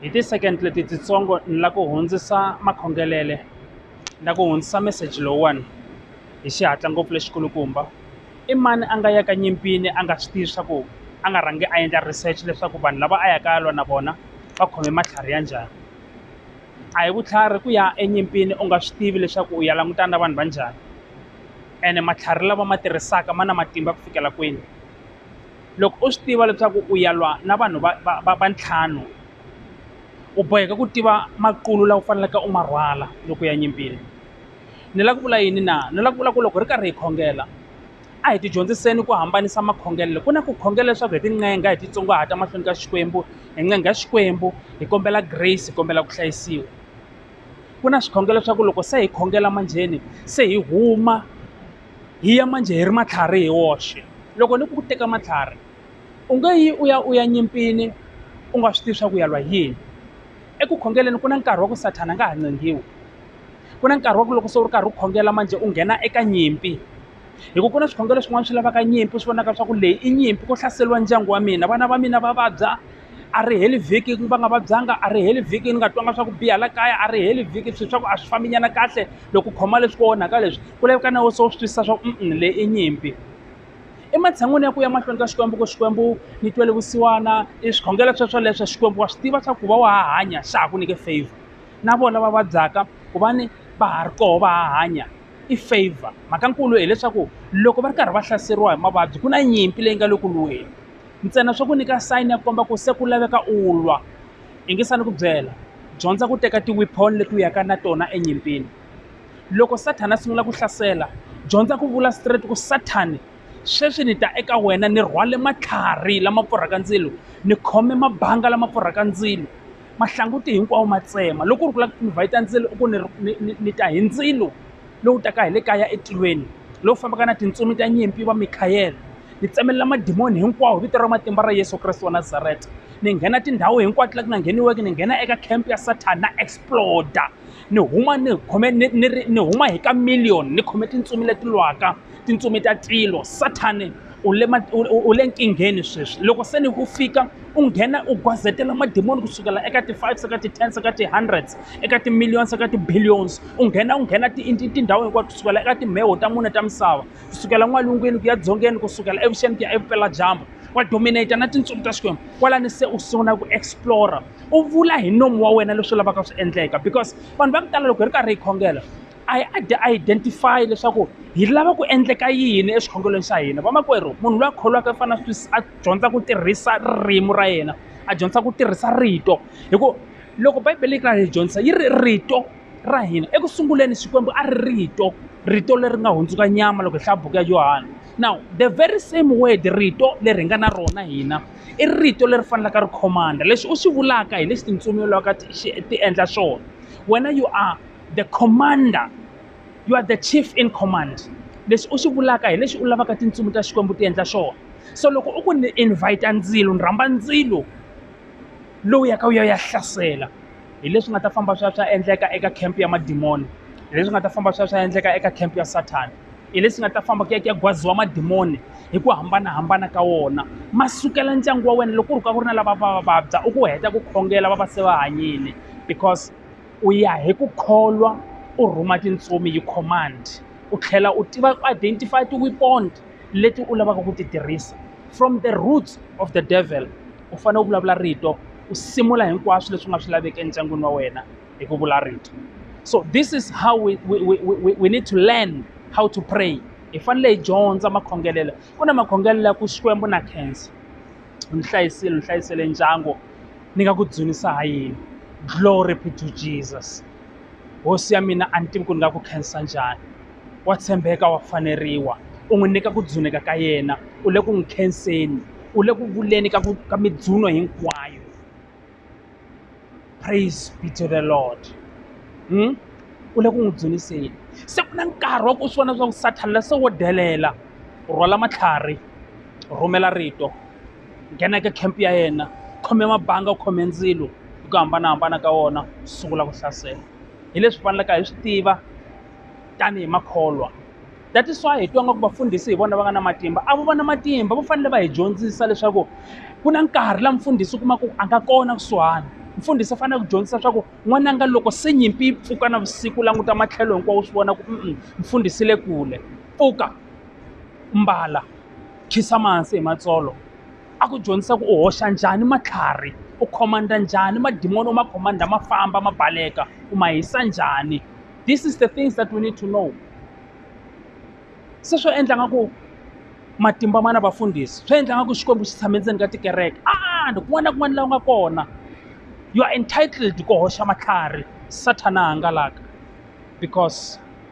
hi ti-second leti titsongo ni la ku hundzisa makhongelele ni la ku hundzisa meseji lowuwani hi xihatla ngopfu lexikulukumba i mani a nga yaka nyimpini a nga swi tivi swa ku a nga rhangi a endla research leswaku vanhu lava a yaka ya lwa na vona va khome matlhari ya njhani a hi vutlhari ku ya enyimpini u nga swi tivi leswaku u ya langutana na vanhu va njhani ene matlhari lava ma tirhisaka ma na matimba ku fikela kwini. loko u swi tiva leswaku u ya lwa na vanhu va va va va ntlhanu u boheka ku tiva makulo lawa u faneleke u ma rhwala loko ya nyimpini ni lava ku vula yini na ni lava ku vula ku loko hi ri karhi hi khongela a hi tidyondziseni ku hambanisa makhongelelo ku na ku khongela leswaku hi tincenga hi titsongahata mahlweni ka xikwembu hi ncenga xikwembu hi kombela grace hi kombela ku hlayisiwa ku na swikhongelo swa ku loko se hi khongela manjheni se hi huma hi ya manjhe hi ri matlhari hi woxe loko ni ku teka matlhari u nge yi u ya u ya nyimpini u nga swi tivi swa ku ya lwa yini eku khongeleni ku na nkarhi wa ku sathana a nga ha ncengiwi ku na nkarhi wa ku loko se u ri karhi u khongela manjhe u nghena eka nyimpi hikuva ku na swikhongelo swin'wana swi lavaka nyimpi swi vonaka swa ku leyi i nyimpi ku hlaseriwa ndyangu wa mina vana va mina va vabya a ri heli vhiki va nga vabyanga a ri heli vhiki ni nga twanga swa ku biha la kaya a ri heli vhiki swilo swa ku a swi fambinyana kahle loko u khoma leswi ku onhaka leswi ku laveka na wena se u swi twisisa swa ku um leyi i nyimpi ematshan'wini ya ku ya mahlweni ka xikwembu ku xikwembu ni twele vusiwana i swikhongelo sweswoleswo xikwembu wa swi tiva swa ku va wa ha hanya xa ha ku nyike favor na vona va vabyaka ku va ni va ha ri koho va ha hanya i favor mhaka nkulu hileswaku loko va ri karhi va hlaseriwa hi mavabyi ku na nyimpi leyi nga le ku lweni ntsena swa ku nyika sayini ya komba ku se ku laveka u lwa yingisani ku byela dyondza ku teka tiwipon leti u yaka na tona enyimpini loko sathana a sungula ku hlasela dyondza ku vula straight ku sathani sweswi ni ta eka wena ni rhwale matlhari lama pfurhaka ndzilo ni khome mabanga lama pfurhaka ndzilo mahlanguti hinkwawo ma tsema loko u ri ku lava ku invhayita ndzilo u ku ni ta hi ndzilo lowu taka hi le kaya etilweni lowu fambaka na tintsumi ta nyimpi va mikhayele ni tsemelela madimoni hinkwawo vito ra matimba ra yesu kreste wa nazareta ni nghena tindhawu hinkwato la ku nga ngheniweki ni nghena eka camp ya satan na exploda ni huma ni khome ni ni ni huma hi ka million ni khome tintsumi leti lwaka tintsumi ta tilo sathane u le u le nkingheni sweswi loko se ni ku fika u nghena u gwazetela madimoni kusukela eka ti-five se ka ti-ten se ka ti-hundreds eka ti-millions eka ti-billions u nghena u nghena tindhawu hinkwato kusukela eka timheho ta mune ta misava kusukela n'walungwini ku ya dzongeni kusukela evuxeni ku ya evupeladyambu wa dominata na tintsumi ta xikwembu kwalani se u sungula ku explora u vula hi nomu wa wena leswi lavaka swi endleka because vanhu va ku tala loko hi ri karhi hi khongela a hi a a identify leswaku hi lava ku endleka yini exikhongelweni xa hina vamakwerhu munhu loyi a kholwaka i fanele a dyondza ku tirhisa ririmi ra yena a dyondza ku tirhisa rito hikuva loko bibele yi karhi yi dyondzisa yi ri rito ra hina eku sunguleni xikwembu a ri rito rito leri nga hundzuka nyama loko hi hlaya buku ya yohana now the very same word rito leri hi nga na rona hina i rito leri fanelaka ri khomanda lexi u xi vulaka hi lexi tintsumi loko ti endla swona wena you are the commander you are the chief in command lexi u xi vulaka hi lexi u lavaka tintsumi ta xikwembu ti endla xona so loko u ku ni invite ndzilo ni rhamba ndzilo lowu yaka wu ya ya hlasela hi leswi nga ta famba swi ya swi ya endleka eka camp ya madimoni hi leswi nga ta famba swi ya swi ya endleka eka camp ya sathana hi leswi nga ta famba ku ya ku ya gwaziwa madimoni hi ku hambanahambana ka wona ma sukela ndyangu wa wena loko ku ri ka ku ri na lava va va vabya u ku heta ku khongela va va se va hanyile because U ya hi ku kholwa, u rhuma tintsumi hi command, u tlhela u tiva ku identify ti-weapon leti u lavaka ku ti tirhisa. From the roots of the devil u fanele u vulavula rito u simula hinkwaswo leswi nga swi laveki endyangwini wa wena hi ku vula rito. So this is how we we we we we need to learn how to pray. Hi fanele hi dyondza makhongelelo. Ku na makhongelelo ya ku Xikwembu na khensa, u ni hlayisile, u hlayisele ndyangu. ni nga ku dzunisa ha yini glory be to Jesus hosi ya mina a ni tivi ku ni nga ku khensa njhani wa tshembeka wa faneriwa u n'wi nyika ku dzuneka ka yena u le ku n'wi khenseni u le ku vuleni ka ku ka midzuno hinkwayo praise be to the lord hmm? u le ku n'wi dzuniseni se ku na nkarhi wa ku swi vona swa ku sathana la se wo delela rhwala matlhari rhumela rito nghena eka camp ya yena khome mabanga u khome ndzilo hi ku hambanahambana ka wona sungula ku hlasela hi leswi faneleke hi swi tiva tanihi makholwa that is why hi twa nga ku vafundhisi hi vona va nga na matimba a vo va na matimba va fanele va hi dyondzisa leswaku ku na nkarhi la mfundhisi u kuma ku a nga kona kusuhani mfundhisi u fanele ku dyondzisa leswaku n'wananga loko se nyimpi yi pfuka na vusiku languta matlhelo hinkwawo u swi vona ku mfundhisi le kule pfuka mbala Khisamansi hi matsolo a ku dyondzisa ku u hoxa njhani matlhari u command njhani madimoni u ma command ma famba ma baleka u ma hisa njhani this is the things that we need to know se swo endla nga ku matimba mana vafundhisi swi endla nga ku xikwembu xi tshame ndzeni ka tikereke and kun'wana na kun'wana laha u nga kona you are entitled ku hoxa matlhari sathana a hangalaka because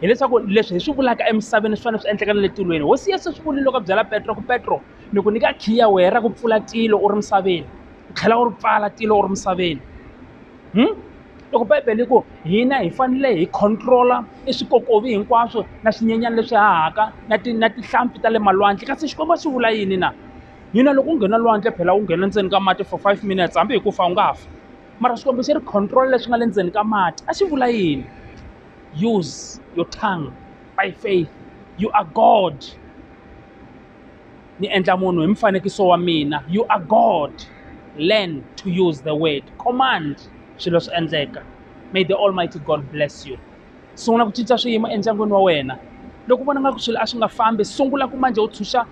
hileswaku leswi hi swi vulaka emisaveni swi fanele swi endleka na le tilweni hosi yesu swi vulile loko a byela petro ku petro ni ku nyika khiya wehe ra ku pfula tilo u ri misaveni u tlhela u ri pfala tilo u ri misaveni hmm? loko bibele ku hina hi fanele hi controla i swikokovi hinkwaswo na swinyenyana leswi hahaka na ti na tihlampfi ta le malwandle kasi xikwembu a swi vula yini na hina loko u nghena lwandle phela u nghena ndzeni ka mati for five minutes hambi hi ku fa u nga fa mara xikwembu xi ri controla leswi nga le ndzeni ka mati a xi vula yini use your tongue by faith you are god ni endla munhu hi mfanekiso wa mina you are god learn to use the word command swilo swi endleka may the almighty god bless you sungula ku cinca swiyimo endyangwini wa wena loko vona nga ku swilo a swi nga fambi sungula ku manje u tshunxa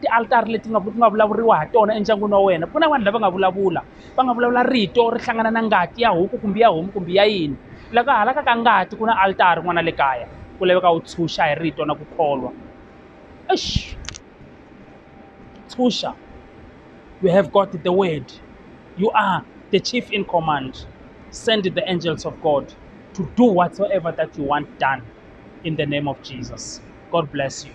tialtari leti nga ku nga vulavuriwa ha tona endyangwini wa wena ku na vanhu lava nga vulavula va nga vulavula rito ri hlangana na ngati ya huku kumbe ya homu kumbe ya yini loko halaka ka ngati ku na alitari n'wana le kaya ku laveka u tshunxa hi rito na ku kholwa eish tshunxa you have got the word you are the chief in command send the angels of god to do whatsoever that you want done in the name of jesus god bless you